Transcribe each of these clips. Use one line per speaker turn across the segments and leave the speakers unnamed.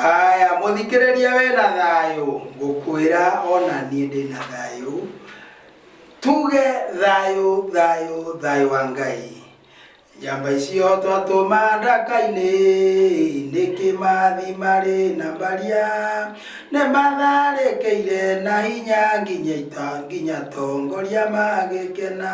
Haya, mũthikĩrĩria we na thayũ, ngũkwĩra ona niĩ ndĩ na thayũ. Tuge thayũ, thayũ, thayũ wa Ngai. Njamba icio twatũma ndaka-inĩ, nĩ kĩmathi marĩ na mbaria. Nĩ matharĩkĩire na hinya nginya ita, nginya tongoria magĩkena.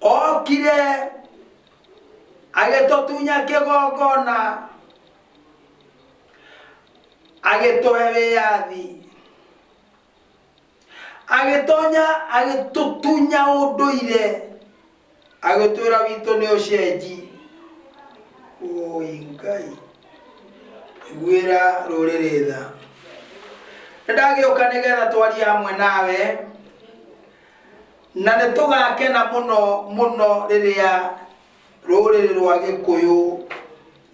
Okire agĩtũtunya kĩgongona agĩtũhe wĩyathi agĩtonya agĩtũtunya ũndũire agĩtwĩra witũ nĩ ũcenji ũi ngai iguĩra rũrĩrĩ tha nĩndagĩũka nĩgetha twarie hamwe nawe Na nĩ tũgaakena mũno mũno rĩrĩa rũrĩrĩ rwa Gĩkũyũ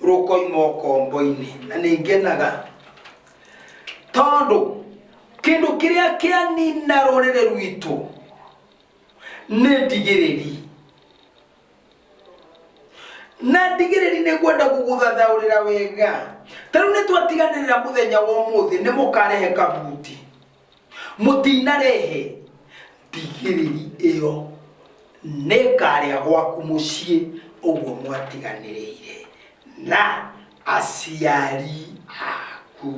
rũkoima ũkombo-inĩ. Na nĩ ngenaga tondũ kĩndũ kĩrĩa kĩanina rũrĩrĩ rwitũ nĩ ndigĩrĩri. Na ndigĩrĩri nĩ ngwenda gũgũthathaũrĩra wega. Ta rĩu nĩ twatiganĩrĩra mũthenya wa ũmũthĩ nĩ mũkarehe kabuti. mũtinarehe ndigĩrĩri ĩyo nĩngarĩa gwaku mũciĩ ũguo mwatiganĩrĩire na aciari aku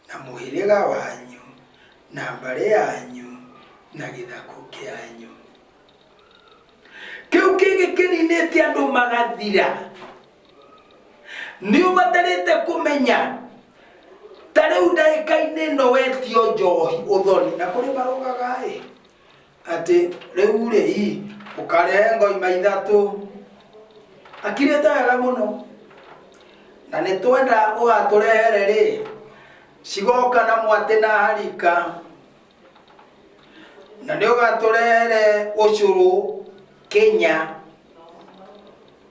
na mũhĩrĩga wanyu na mbarĩ yanyu na gĩthakũ kĩanyu kĩu kĩngĩ kĩninĩte andũ magathira nĩ ũbatarĩte kũmenya ta rĩu ndagĩka-inĩ ĩno wetio njohi ũthoni na kũrĩ marogaga ĩ atĩ rĩu rĩ i ũkarehe ngoima ithatũ akirĩte wega mũno na nĩ twenda ũgatũrehere rĩ cigoka na mwatĩ na harika na nĩ ũgatũrehere ũcũrũ kenya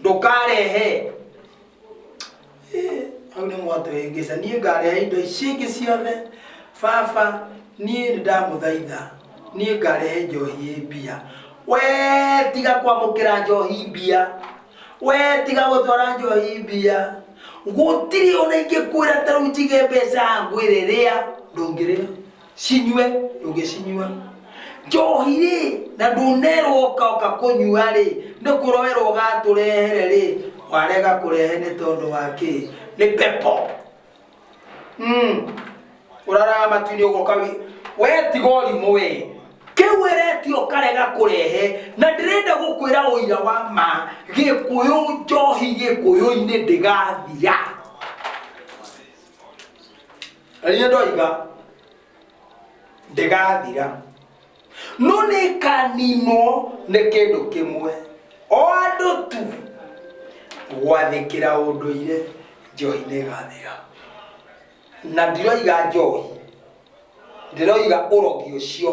ndũkarehe Eh, hau nĩ mwatũhĩngĩca niĩ ngarehe indo ici ingĩ ciothe baba niĩ nĩ ndamũthaitha niĩ ngarehe njohi ĩ mbia we tiga kwamũkĩra njohi mbia we tiga gũtwara njohi mbia gũtirĩ ona ingĩkwĩra tarĩu njige mbeca ngwĩre rĩa ndũngĩrĩa cinyue ndũngĩcinyua njohi rĩ na ndũnerwo ũkaoka kũnyua rĩ nĩ kũroerwo ũgatũrehere rĩ warega kũrehe nĩ tondũ wa kĩ nĩ pepo mm. ũraraga matu-inĩ ũgoka wĩ we tiga ũrimũ we kĩu ĩreti ũkarega kũrehe na ndĩrenda gũkwĩra ũira wa ma gĩkũyũ njohi gĩkũyũ-inĩ ndĩgathira rĩrĩa ndoiga ndĩgathira no nĩ kaninwo nĩ kĩndũ kĩmwe o andũ tu gwathĩkĩra ũndũire njohi nĩ ĩgathira na ndiroiga njohi ndĩroiga ũrogi ũcio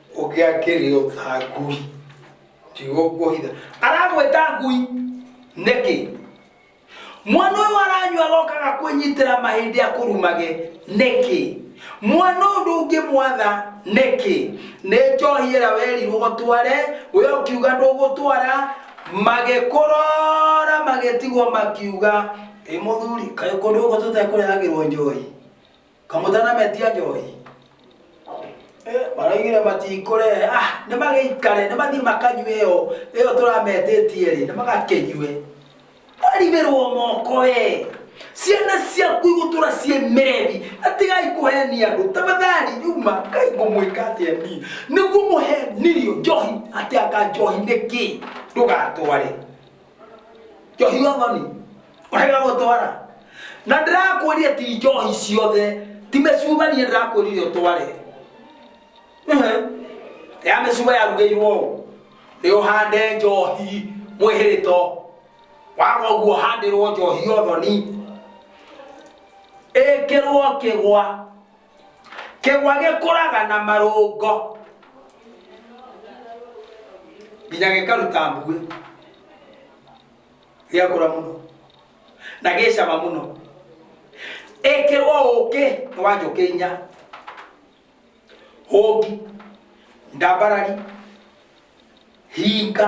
ũngĩakĩrĩo ta ngui kiugo kuohitha aramwĩta ngui nĩkĩ mwana ũyũ aranyua gokaga kwĩnyitĩra mahĩndĩ akũrumage nĩkĩ mwana ũndũ ũngĩmwatha nĩkĩ nĩ njohi ĩra werirwo gũtware we ũkiuga ndũgũtwara magĩkũrora magĩtigwo makiuga ĩ mũthuri kaĩ kũndũ gũkũ tũtekũrehagĩrwo njohi kamũtana metia njohi maraigire matikũrehe ah nĩ magĩikare nĩ mathiĩ makanyue ĩyo ĩyo tũrametĩtie rĩ nĩ magakĩnyue warigĩrwo moko we ciana ciaku igũtũra ciĩ merebi atigai kũheni andũ tafadhali yuma kai ngũmwĩka atĩa ni nĩguo mũhenirio njohi atĩ anga njohi nĩ kĩ ndũgatware njohi othoni wega gũtwara na ndĩrakwĩria ti njohi ciothe ti mĩcumanie ndĩrakwĩrire ũtware ya mĩcuma yarugĩirwo ũũ nĩ ũhande njohi mwĩhĩrĩto waga ũguo handĩrwo njohi othoni ĩkĩrwo kĩgwa kĩgwa gĩkũraga na marũngo nginya gĩkaruta mbuĩ gĩakũra mũno na gĩcama mũno ĩkĩrwo ũkĩ nĩ wa njũkĩ inya hũngi ndambarari hinga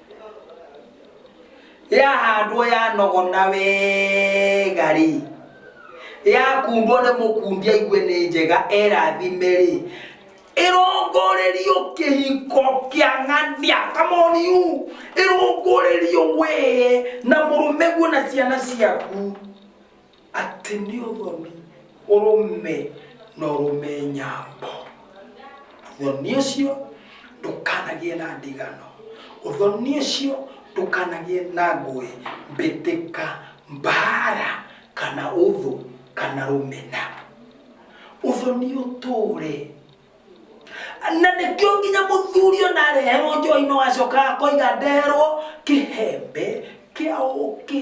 yahandwo yanogona wega rĩ yakundwo nĩ mũkundi aigue nĩ njega erathime rĩ ĩrongorerio kĩhiko kĩa ng'ania kamoniu ĩrongorerio wee na mũrũme guo na ciana ciaku Atĩ nĩ ũthoni ũrũme na ũrũme nyambo. Ũthoni ũcio ndũkanagĩe na ndigano. Ũthoni ũcio ndũkanagĩe na ngũĩ, mbĩtĩka, mbaara, kana ũthũ, kana rũmena. Ũthoni ũtũũre. Na nĩkĩo nginya mũthuri ona areherwo njohi no acokaga akoiga ndeherwo kĩhembe kĩa ũũkĩ.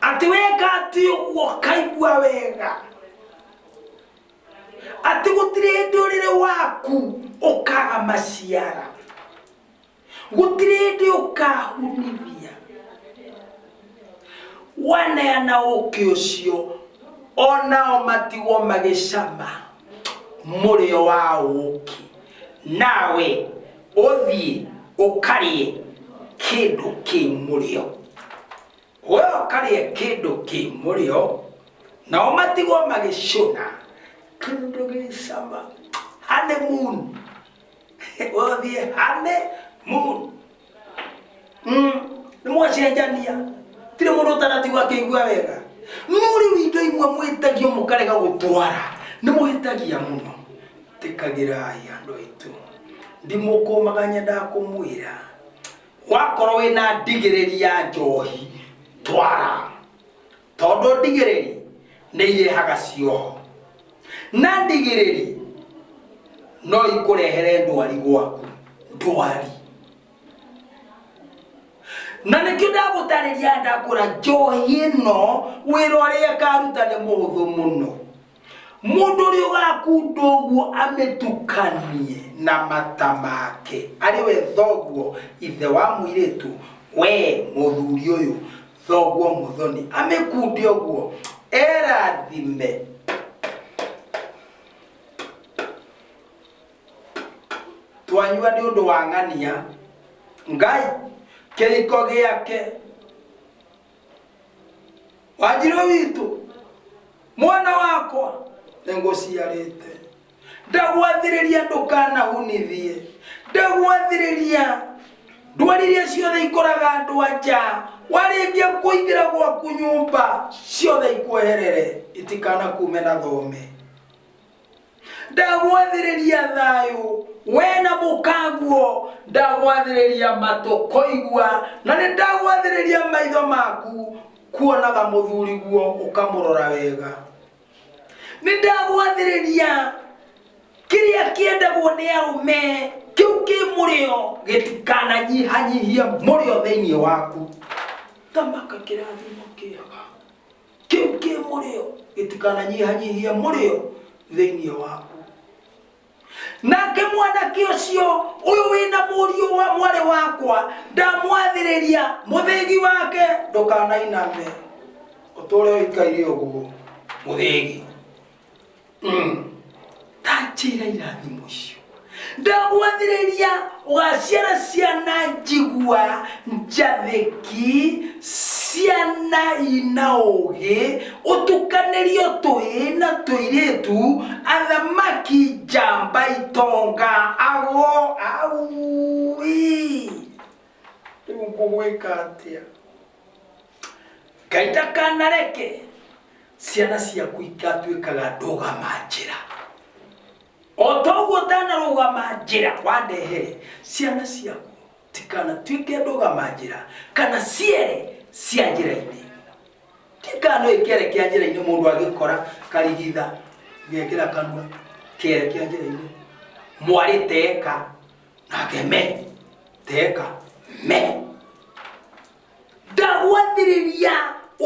ati weka ati uguo kaigua wega ati gutire hindi uriri waku ukaga maciara gutire hindi ukahunithia waneana ũkĩ ũcio onao matigwo magĩcama mũrĩo wa ũkĩ nawe ũthiĩ ũkarĩe kĩndũ kĩ mũrĩo We ũkarĩa kĩndũ kĩ mũrĩo, nao matigwo magĩcũna kĩndũ gĩ cama honeymoon wathiĩ honeymoon Mm, nĩ mwacenjania tirĩ mũndũ ũtanatigwo akĩigua wega no rĩu indo imwe mwĩtagio mũkarega gũtwara nĩ mwĩtagia mũno tĩkagĩrai andũ aitũ ndimũkũmaga nyendaga kũmwĩra Wakorwo wĩ na ndigĩrĩri ya njohi, twara, tondũ ndigĩrĩri nĩ irehaga cioho, na ndigĩrĩri no ikũrehere ndwari gwaku, ndwari. Na nĩkĩo ndagũtarĩria ndakwĩra njohi ĩno wĩra ũrĩa ĩkaruta nĩ mũhũthũ mũno. mũndũ ũrĩa ũgakunda ũguo amĩtukanie na mata make arĩ we thoguo ithe wa mũirĩtu we mũthuri ũyũ thoguo mũthoni amĩkunde ũguo erathime twanyua nĩ ũndũ wa ng'ania ngai kĩriko gĩake wanjiro witũ mwana wakwa nĩngũciarĩte ndagwathĩrĩria ndũkanahunithie ndagwathĩrĩria ndwari iria ciothe ikũraga andũ aja warĩkia kũingĩra gwaku nyũmba ciothe ikweherere itikanakume na thome ndagwathĩrĩria thayũ we na mũkaguo ndagwathĩrĩria matũ kũigua na nĩ ndagwathĩrĩria maitho maku kuonaga mũthuri guo ũkamũrora wega nĩ ndagwathĩrĩria kĩrĩa kĩendagwo nĩ arũme kĩu kĩ mũrĩo gĩtikananyihanyihia mũrĩo thĩinĩ waku thamaka kĩrathimo kĩega kĩu kĩ mũrĩo gĩtikananyihanyihie mũrĩo thĩinĩ waku nake mwanake ũcio ũyũ wĩna mũriũ wa mwarĩ wakwa ndamwathĩrĩria mũthĩgi wake ndũkanainame ũtũre ũikaire ũguo mũthĩgi ndanjĩra irathimo icio ndagwathĩrĩria ũgaciara ciana njigua njathĩki ciana ina ũgĩ ũtukanĩrio tũĩ na tũirĩtu athamaki njamba itonga agwo aui rĩu ngũgwĩka atĩa ngai ndakanareke ciana ciaku igatuĩkaga ndũgama njĩra o toguo ndanarũgama njĩra wandehere ciana ciaku tikanatuĩke ndũgama njĩra kana ciere cia njĩra-inĩ tikano ĩkĩere kĩa njĩra-inĩ mũndũ agĩkora karigitha gekĩra kanua kĩere kĩa njĩra-inĩ mwarĩteka nake me teka me ndagwathĩrĩria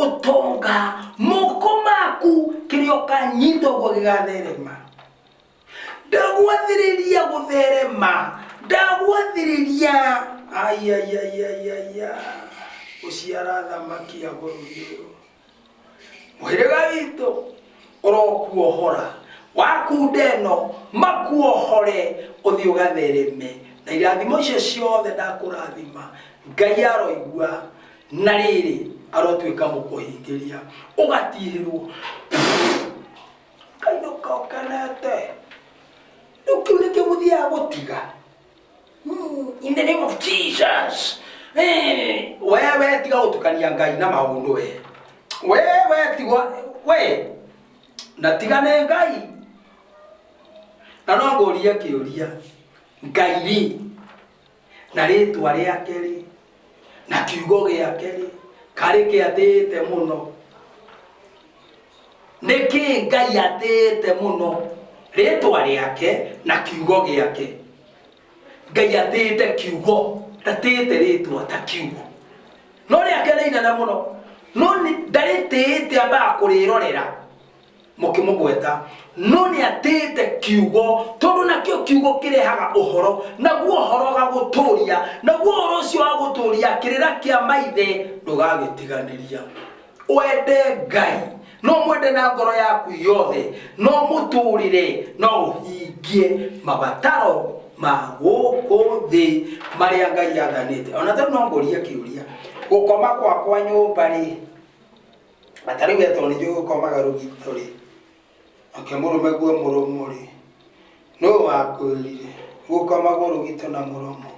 ũtonga moko maku kĩrĩa ũkanyita ũguo gĩgatherema ndagwathĩrĩria gũtherema ndagwathĩrĩria ayayayayaya gũciara thamaki ya bũrũri ũyũ mũhĩrĩga witũ ũrokuohora wakunda ĩno makuohore ũthiĩ ũgathereme na irathimo icio ciothe ndakũrathima ngai aroigua na rĩrĩ arotuĩka mũkũhingĩria ũgatihĩrwo kainũka ũkenete rĩu kĩu nĩkĩo mũthiaga gũtiga Ooh, in the name of jesus Eh, wewe tiga gutukania ngai na maundu we wewe tigwa we na tigane ngai na no ngũrie kĩũria ngai rĩ na rĩtwa rĩake rĩ na kiugo gĩake rĩ karĩ kĩatĩĩte mũno nĩ kĩ ngai atĩĩte mũno rĩtwa rĩake na kiugo gĩake ngai atĩĩte kiugo ndatĩĩte rĩtwa ta kiugo no rĩake rĩinene mũno no nĩ- ndarĩtĩĩte ambaga kũrĩrorera mũkĩmũgweta no nĩ atĩĩte kiugo tondũ nakĩo kiugo kĩrehaga ũhoro naguo ũhoro gagũtũũria naguo ũhoro ũcio wa gũtũũria kĩrĩra kĩa maithe ndũgagĩtiganĩria wende ngai no mwende na ngoro yaku yothe no mũtũũrĩre no ũhingie mabataro ma gũkũ thĩ marĩa ngai athanĩte ona tondũ no ngũria kĩũria gũkoma gwakwa nyũmba rĩ na ta rĩu etwo nĩ njũĩ ũkomaga rũgito rĩ akĩmũrũme guo mũrũmũ rĩ nũ wakwĩrire gũkomagwo rũgito na mũrũmũ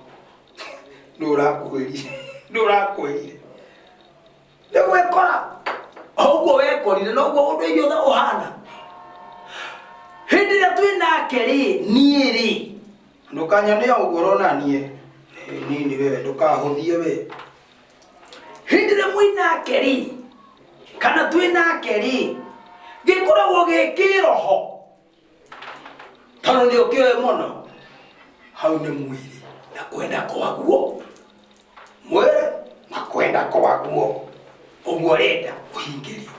nũ ũrakwĩrire nũ ũrakwĩrire nĩ gwĩkora o ũguo wekorire noguo ũndũ iria othe ũhana hĩndĩ ĩrĩa twĩ nake rĩ niĩ rĩ ndũkanyone ũguo ũronanie nini we ndũkahũthie we hĩndĩ ĩrĩa mwĩ nake rĩ kana twĩ nake rĩ gĩkoragwo gĩ kĩroho tondũ nĩ ũkĩoe mũno hau nĩ mwĩrĩ na kwenda kwaguo mwĩrĩ na kwenda kwaguo ũguo renda ũhingĩrio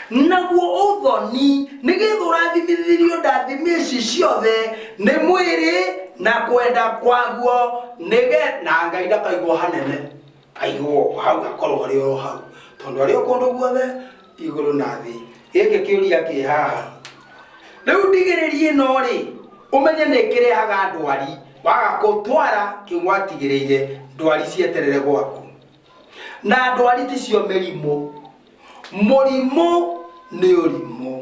naguo ũthoni nĩgetha ũrathimithĩrio ndathimi ici ciothe nĩ mwĩrĩ na kwenda kwaguo nĩge na ngai ndakaigwo hanene aigwo hau akorwo arĩ o hau tondũ arĩ o kũndũ guothe igũrũ na thĩ gĩkĩ kĩũria kĩ haha rĩu ndigĩrĩrie ĩno rĩ ũmenye nĩ kĩrehaga ndwari waga kũtwara kĩgwatigĩrĩire ndwari cieterere gwaku na ndwari ticio mĩrimũ mũrimũ nĩ ũrimũ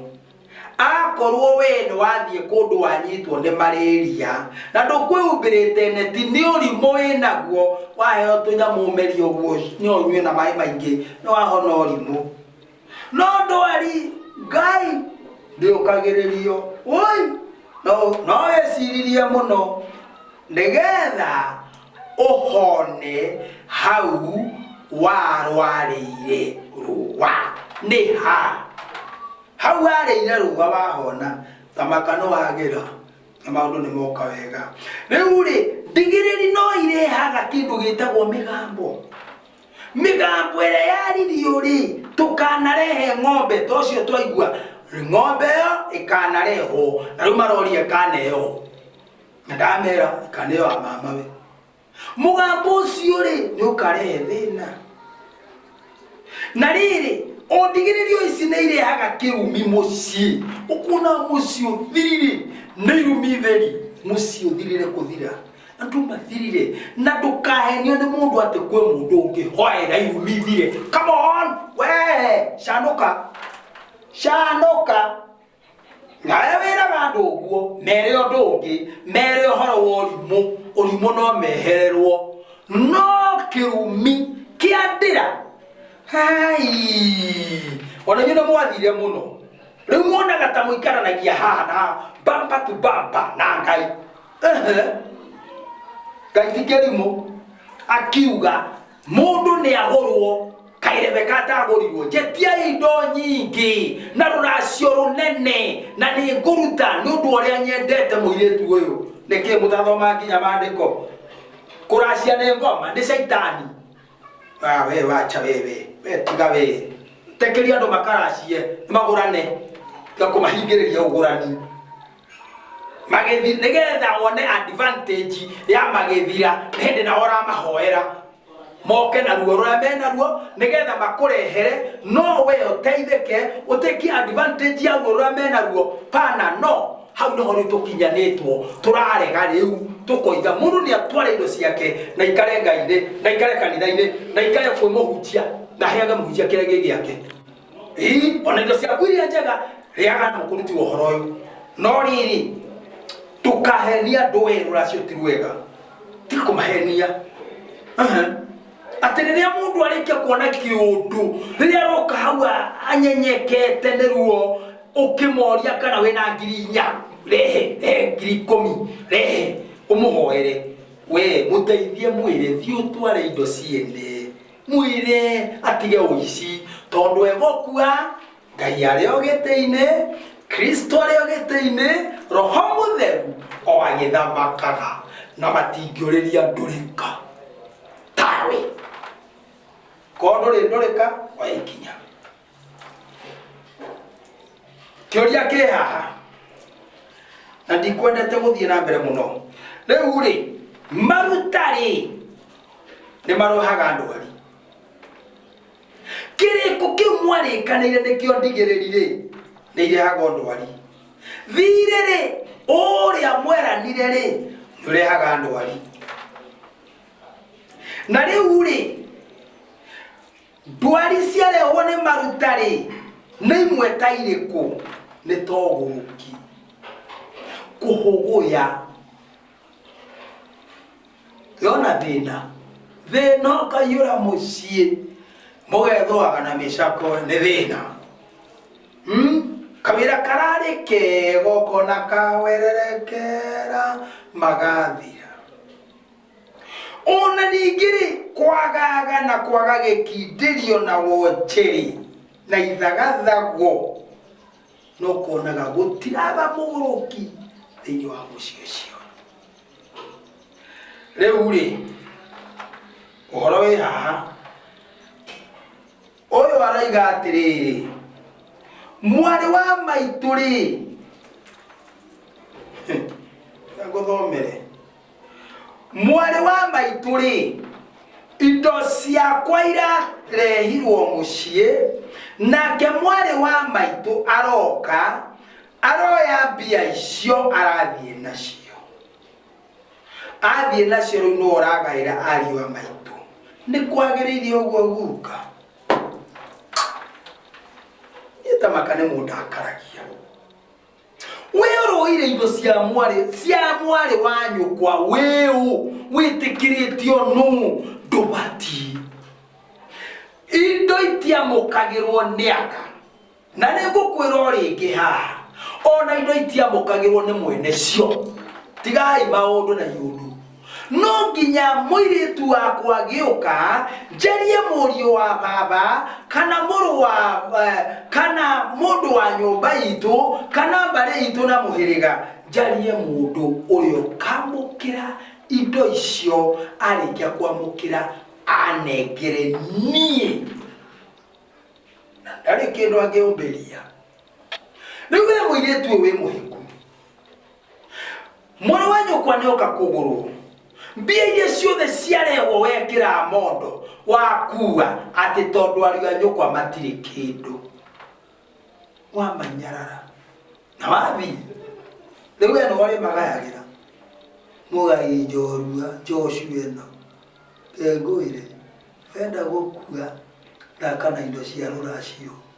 akorwo we nĩ wathiĩ kũndũ wanyitwo nĩ marĩria na ndũkwĩhumbĩrĩte neti nĩ ũrimũ wĩnaguo waheo tũnyamũ ũmerie ũguo nĩ ũnyue na maĩ maingĩ nĩ wahona ũrimũ no ndwari ngai ndĩũkagĩrĩrio woi no no wĩciririe mũno nĩgetha ũhone hau warwarĩire rũa nĩ ha hau warĩire rũa wahona thamaka nĩ wagĩra na maũndũ nĩ moka wega rĩu rĩ ndigĩrĩri no irehaga kĩndũ gĩtagwo mĩgambo mĩgambo ĩrĩa yaririo rĩ tũkanarehe ng'ombe ta ũcio twaigua ng'ombe ĩyo ĩkanarehwo na rĩu maroria ĩkaneyo na ndamera ikana ĩyo ya mamawe mũgambo ũcio rĩ nĩ ũkarehe thĩna na rĩrĩ ũndigĩrĩrio ici nĩ irehaga kĩrumi mũciĩ ũkuona mũciĩ ũthirire nĩ irumi theri mũciĩ ũthirire kũthira andũ mathirire na ndũkahenio nĩ mũndũ atĩ kwĩ mũndũ ũngĩ hoera irumi thire come on we canũka canũka nawe wĩraga andũ ũguo mere ũndũ ũngĩ mere ũhoro wa ũrimũ ũrimũ no mehererwo no kĩrumi kĩa ndĩra hai ona inyuĩ nĩ mwathire mũno rĩu muonaga ta mũikaranagia haha na bamba tu bamba na ngai Ehe. ngai ti kĩrimũ akiuga mundu ni agurwo kairebeka atagurirwo njetiai indo nyingi na ruracio runene na ni nguruta ni undu uria nyendete muiritu uyu niki mutathoma nginya mandiko kuracia ni ngoma ni shaitani Ah, we wacha wewe we tiga we tekeria andu makaracie magurane tiga kumahingiriria ugurani magĩthi nĩgetha wone advantage ya magĩthira hĩndĩ na ũramahoera moke na ruo rũrĩa menaruo nĩgetha makũrehere no we ũteithĩke ũtĩkie advantage ya ruo rũrĩa menaruo pana no hau nĩho rĩu tũkinyanĩtwo tũrarega rĩu tũkoiga mũndũ nĩ atware indo ciake na ikare ngai-inĩ na ikare kanitha-inĩ na ikare kwĩ mũhunjia na heage mũhunjia kĩrĩa gĩ gĩake Ĩ, ona indo ciaku iria njega rĩaga na ũkũruti ũhoro ũyũ no rĩrĩ ndũkahenia andũ wee rũracio ti rwega tiga kũmahenia Aha. atĩ rĩrĩa mũndũ arĩkia kuona kĩũndũ rĩrĩa aroka hau a- anyenyekete nĩ ruo ũkĩmoria kana wĩna ngiri inya rehe rehe ngiri ikũmi rehe ũmũhoere we mũteithie mwĩre thiĩ ũtware indo ciene mwĩre atige ũici tondũ egũkua ngai arĩ o gĩtĩ-inĩ kristo arĩ o gĩtĩ-inĩ roho mũtheru o agĩthamakaga na matingĩũrĩria ndũrĩka tawe korwo ndũrĩ ndũrĩka oya ikinya kĩũria kĩ haha na ndikwendete gũthiĩ na mbere mũno rĩu rĩ maruta rĩ nĩ marohaga ndwari kĩrĩko kĩu mwarĩkanĩire nĩkĩo ndigĩrĩri rĩ nĩ irehaga ndwari thirĩ rĩ ũrĩa mweranire rĩ nĩ ũrehaga ndwari na rĩu rĩ Ndwari ciarehwo nĩ maruta-rĩ, nĩ imwe ta irĩkũ? Nĩ ta ũgũrũki, kũhũgũya, yona thĩna, thĩna ũkaiyũra mũciĩ, mũgethũaga na mĩcakwe nĩ thĩna. Hmm? Kawĩra kararĩ kega ũkona kawererekera magathira. O na ningĩ-rĩ, kwagaga na kwaga gĩkindĩrio na wonje-rĩ, na ithagathago, no kuonaga gũtiraga mũgũrũki thĩinĩ wa mũciĩ ũcio. Rĩu-rĩ, ũhoro wĩ haha, ũyũ aroiga atĩrĩrĩ, mwarĩ wa maitũ-rĩ, ngũthomere mwarĩ wa maitũ rĩ indo ciakwa irarehirwo mũciĩ nake mwarĩ wa maitũ aroka aroya mbia icio arathiĩ nacio athiĩ nacio rĩu nĩwe ũragaĩra ariũ a maitũ nĩ kwagĩrĩire ũguo guka ĩtamaka nĩ mũndakaragia wĩũrũire indo cia mwarĩ cia mwarĩ wa nyũkwa wĩũ wĩtĩkĩrĩtio nũ ndũbati indo itiamũkagĩrwo nĩ aka na nĩ ngũkwĩra o rĩngĩ haha ona indo itiamũkagĩrwo nĩ mwene cio tigai maũndũ na iũndũ no nginya mũirĩtu wakwa gĩũka njarie mũriũ wa baba kana mũrũ wa eh, kana mũndũ wa nyũmba itũ kana mbarĩ itũ na mũhĩrĩga njarie mũndũ ũrĩa ũkamũkĩra indo icio arĩkia kwamũkĩra anengere niĩ na ndarĩ kĩndũ angĩũmbĩria rĩu we mũirĩtu ũyũ wĩ mũhiku mwarĩ wa nyũkwa nĩ oka kũgũrũ mbia iria ciothe ciarehwo wekĩra mondo wakua atĩ tondũ ariũ a nyũkwa matirĩ kĩndũ wamanyarara na wathiĩ rĩu we nĩwe ũrĩmagayagĩra mũgai njorua njocu ĩno ngengũĩre wenda gũkua thaka na indo cia rũracio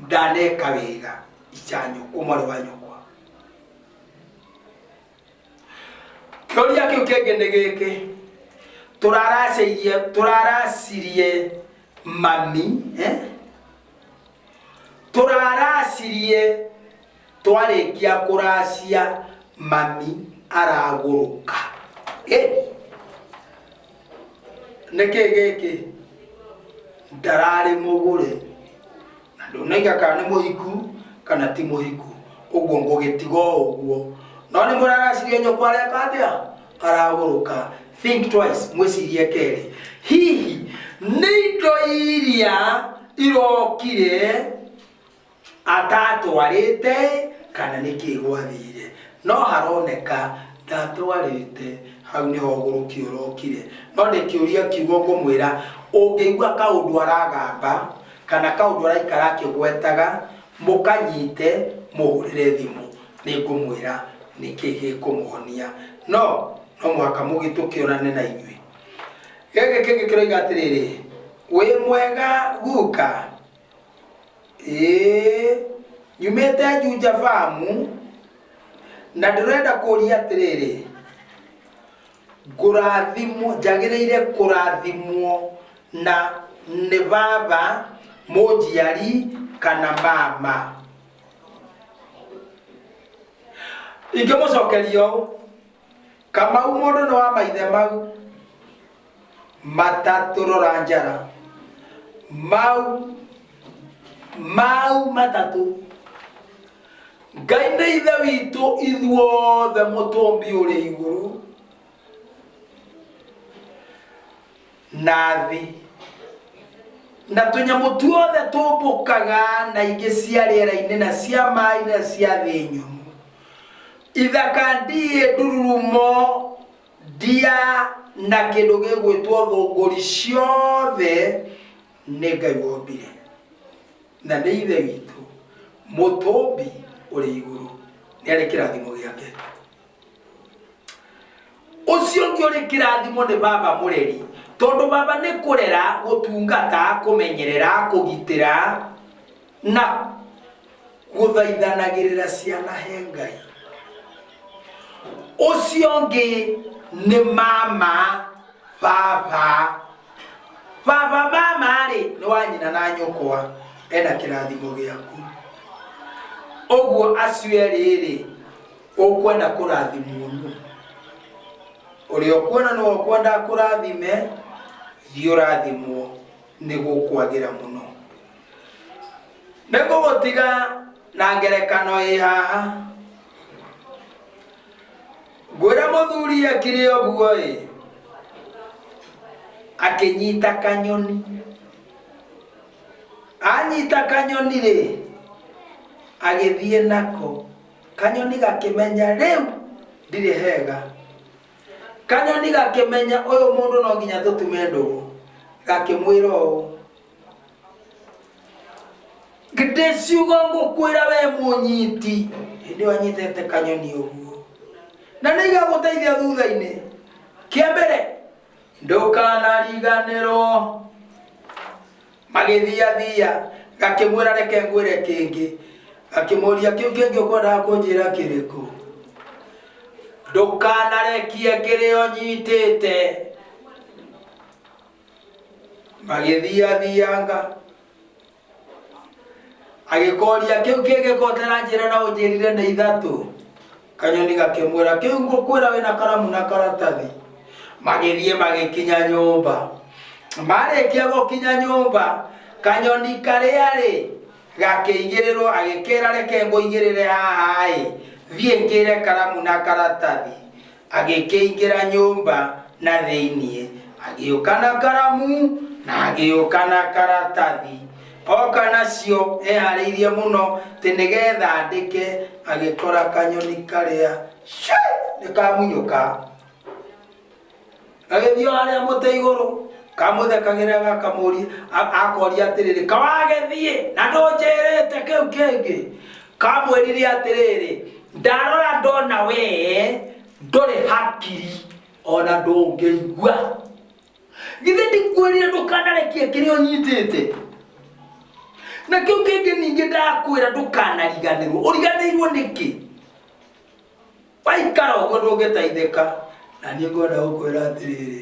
ndaneka wega icanyo umore wa nyokwa kĩũria kĩu kĩngĩ nĩ gĩkĩ tũraracĩirie tũraracirie mami eh? tũraracirie Twarĩkia kũracia mami aragũrũka. Eh! Nĩkĩ gĩkĩ? Ndararĩ mũgũre. Na ndũnaiga kana nĩ mũhiku kana ti mũhiku. Ũguo ngũgĩtiga o ũguo. No nĩ mũraracirie nyũkwa areka atĩa? Aragũrũka. Think twice, mwĩcirie kerĩ. Hihi nĩ indo iria irokire atatwarĩte kana nĩkĩ gwathire no haroneka ndatwarĩte hau nĩho ũgũrũki ũrokire no ndĩkĩũria kiugo ngũmwĩra ũngĩigua kaũndũ aragamba kana kaũndũ araikara akĩgwetaga mũkanyite mũhũrĩre thimũ nĩ ngũmwĩra nĩkĩ gĩkũmũhonia no no mũhaka mũgĩtũkĩonane na inyuĩ gĩkĩ kĩngĩ kĩroiga atĩrĩrĩ wĩ mwega guka ĩĩ nyumĩte njunja famu na ndĩrenda kũria atĩrĩrĩ ngũrathimwo njagĩrĩire kũrathimwo na nĩ baba mũnjiari kana mama ingĩmũcokeria ũũ Kamau mũndũ nĩ wa maithe mau matatũrora njara mau mau matatũ ngai nĩ ithe witũ ithuothe mũtũmbi ũrĩ igũrũ nathi na tũnyamũ tuothe tũmbũkaga na ingĩ cia rĩera-inĩ na cia maĩ na cia thĩ nyũmũ ithaka ndiĩ ndururumo ndia na kĩndũ gĩgwĩtwo thũngũri ciothe nĩ ngai wombire na nĩ ithe witũ mũtũmbi ũrĩ igũrũ nĩ arĩ kĩrathimo gĩake ũcio ũngĩ ũrĩ kĩrathimo nĩ baba mũreri tondũ baba nĩ kũrera gũtungata kũmenyerera kũgitĩra na gũthaithanagĩrĩra ciana he ngai ũcio ũngĩ nĩ mama baba baba mama rĩ nĩ wa nyina na nyũkwa ena kĩrathimo gĩaku ũguo acio erĩ rĩ Ũkwenda kũrathimwo nũ? Ũrĩa ũkuona nĩwe ũkwenda akũrathime, thiĩ ũrathimwo, nĩ gũkwagĩra mũno. Nĩ ngũgũtiga na ngerekano ĩ haha. Ngwĩra mũthuri ekire ũguo-ĩ, akĩnyita kanyoni. Anyita kanyoni-rĩ, agĩthiĩ nako. kanyoni gakĩmenya rĩu ndirĩ hega kanyoni gakĩmenya ũyũ mũndũ no nginya tũtume ndũgũ gakĩmwĩra ũũ githĩ ciugo ngũkwĩra we mũnyiti hĩndĩ ĩyo anyitĩte kanyoni ũguo na nĩ igagũteithia thutha-inĩ kĩa mbere ndũkanariganĩrwo magĩthiathiia ngakĩmwĩra reke ngwĩre kĩngĩ ngakĩmũria kĩu kĩngĩ ũkwendaga kũnjĩra kĩrĩkũ ndũkanarekie kĩrĩa ũnyitĩte magĩthiathianga agĩkoria kĩu kĩngĩ kotera njĩra na ũnjĩrire nĩ ithatũ Kanyoni gakĩmwĩra, kĩu ngũkwĩra wĩna karamu na karatathi. Magĩthiĩ magĩkinya nyũmba. Marĩkia gũkinya nyũmba, kanyoni karĩa-rĩ, gakĩigĩrĩrwo agĩkĩra reke ngũigĩrĩre haha-ĩ, thiĩ ngĩre karamu na karatathi. Agĩkĩingĩra nyũmba na thĩiniĩ, agĩũka na karamu na agĩũka na karatathi. Oka nacio eharĩirie mũno tĩ nĩgetha andĩke agĩkora kanyoni karĩa nĩkamunyũka gagĩthiĩ harĩa mũtĩ igũrũ kamũthekagĩra gakamũri akoria atĩrĩrĩ kawagĩthiĩ na ndũnjĩrĩte kĩu kĩngĩ kamwĩrire atĩrĩrĩ ndarora ndona wee ndũrĩ hakiri ona ndũngĩigua githĩ ndikwĩrire ndũkanarekia kĩrĩa ũnyitĩte na kĩu kĩngĩ ningĩ ndakwĩra ndũkanariganĩrwo ũriganĩirwo nĩkĩ waikara ũguo ndũngĩteithĩka na niĩ ngwenda gũkwĩra atĩrĩrĩ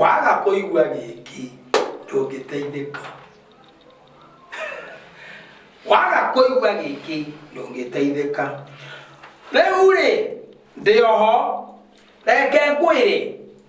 waga kũigua gĩkĩ ndũngĩteithĩka waga kũigua gĩkĩ ndũngĩteithĩka rĩu rĩ ndĩ oho reke ngwĩre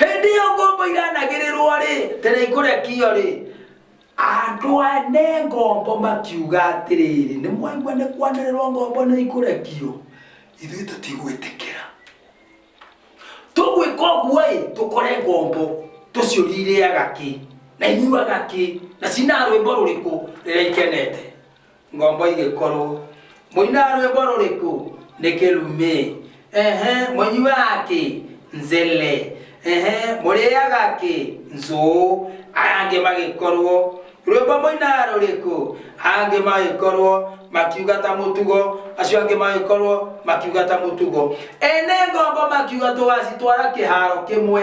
hĩndĩ ĩyo ngombo iranagĩrĩrwo rĩ tere ikũrekio rĩ andũ ane ngombo makiuga atĩrĩrĩ nĩ mwaigua nĩ kwanĩrĩrwo ngombo nĩ ikũrekio ithuĩ tũtigwĩtĩkĩra tũgwĩka ũguo ĩ tũkore ngombo tũciũri irĩaga kĩ na inyuaga kĩ na cina rwĩmbo rũrĩkũ rĩrĩa ikenete ngombo igĩkorwo mũinaga rwĩmbo rũrĩkũ nĩ kĩrumĩ ehe mũnyuaga kĩ nzele ehe mũrĩaga kĩ nzũũ aya angĩ magĩkorwo rwĩmbo mũinaga rũrĩkũ aya angĩ magĩkorwo makiuga ta mũtugo acio angĩ magĩkorwo makiuga ta mũtugo ene ngombo makiuga tũgacitwara kĩharo kĩmwe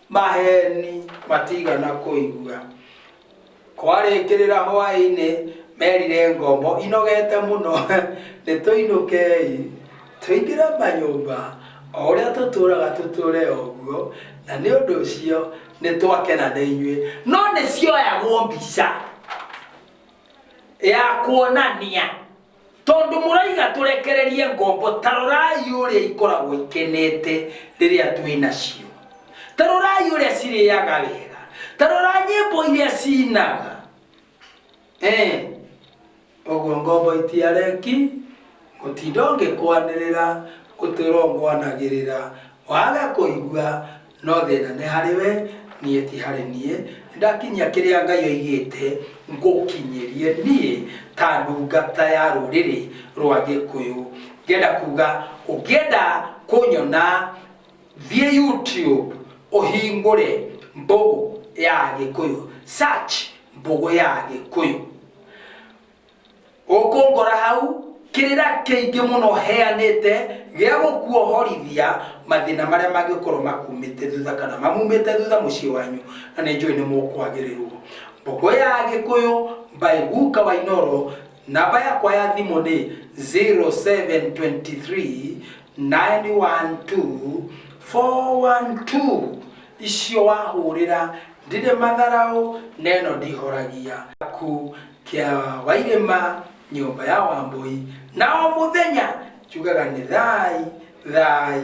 Maheeni matiigana kũigua. Kwarĩkĩrĩra hwaĩ-inĩ, merire ngombo inogeete mũno, Nĩtũinũkei, tũingĩre manyũmba, o ũrĩa tũtũũraga tũtũũre o ũguo, na nĩ ũndũ ũcio nĩtwakena nĩ inyuĩ. No nĩcioyagwo mbica ya kuonania. Tondũ mũraiga tũrekererie ngombo, ta rorai ũrĩa ikoragwo ikenete rĩrĩa twĩ nacio. Ta rorai ũrĩa cirĩaga wega. Ta rora nyĩmbo iria ciinaga. Ee, ũguo ngombo itiareki gũtinda ũngĩkwanĩrĩra, gũtũũra ũngwanagĩrĩra, wage kũigua, No thĩna nĩ harĩ we, niĩ ti harĩ niĩ. Nĩndakinyia kĩrĩa Ngai oigĩte ngũkinyĩrie niĩ ta ndungata ya rũrĩrĩ rwa Gĩkũyũ. Ngĩenda kuga ũngĩenda kũnyona thiĩ YouTube ũhingũre Mbũgũ ya Gĩkũyũ, search Mbũgũ ya Gĩkũyũ. Ũkũngora hau kĩrĩra kĩingĩ mũno heanĩte gĩa gũkuohorithia mathĩna marĩa mangĩkorwo makumĩte thutha kana mamumĩte thutha mũciĩ wanyu na nĩ njũĩ nĩ mũkwagĩrĩrwo mbogo ya gĩkũyũ by guka wa inoro namba yakwa ya thimũ nĩ 0723 912 412 icio wahũrĩra ndirĩ matharaũ neno ndihoragia ku kĩa wa irĩma nyũmba ya wambũi na o mũthenya njugaga nĩ thai thai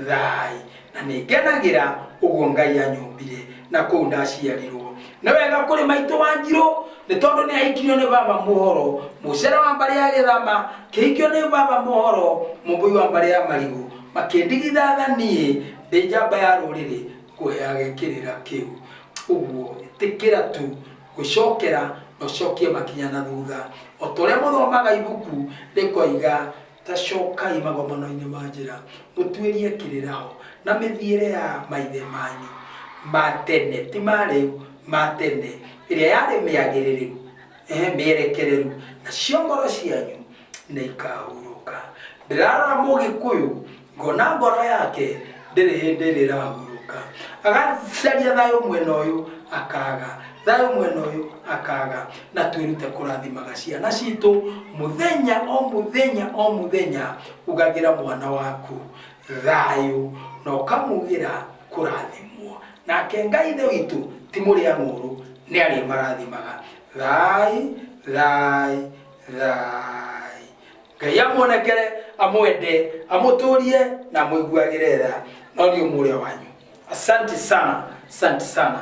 thai na nĩ ngenagĩra ũguo ngai anyũmbire na kũu ndaciarirwo nĩ wega kũrĩ maitũ wa njirũ nĩ tondũ nĩ ahikirio nĩ baba mũhoro mũcere wa mbarĩ ya gĩthama kĩhikio nĩ baba mũhoro mũmbũi wa mbarĩ ya marigũ makĩndigitha tha niĩ ndĩ njamba ya rũrĩrĩ ngũheage kĩrĩra kĩu ũguo ĩtĩkĩra tu gũcokera na ũcokie makinya na thutha. O ta ũrĩa mũthomaga ibuku rĩkoiga, ta cokai magomano-inĩ ma njĩra, mũtuĩrie kĩrĩra ho, na mĩthiĩre ya maithe manyu ma tene, ti ma rĩu, ma tene, ĩrĩa yarĩ mĩagĩrĩrĩru, ee, mĩerekereru, nacio ngoro cianyu nĩ ikaahurũka. Ndĩrarora Mũgĩkũyũ ngona ngoro yake ndĩrĩ hĩndĩ rĩrahurũka agacaria thayũ mwena ũyũ akaga thayũ mwena ũyũ akaga na twĩrute kũrathimaga ciana citũ mũthenya o mũthenya o mũthenya ugagĩra mwana waku thayũ na ũkamugĩra kũrathimwo nake ngai ithe witũ ti mũrĩa ng'ũrũ nĩ arĩ marathimaga thai thai thai ngai amuonekere amwende amũtũrie na amũiguagĩre tha no nĩ ũmũrĩa wanyu asanti sana asanti sana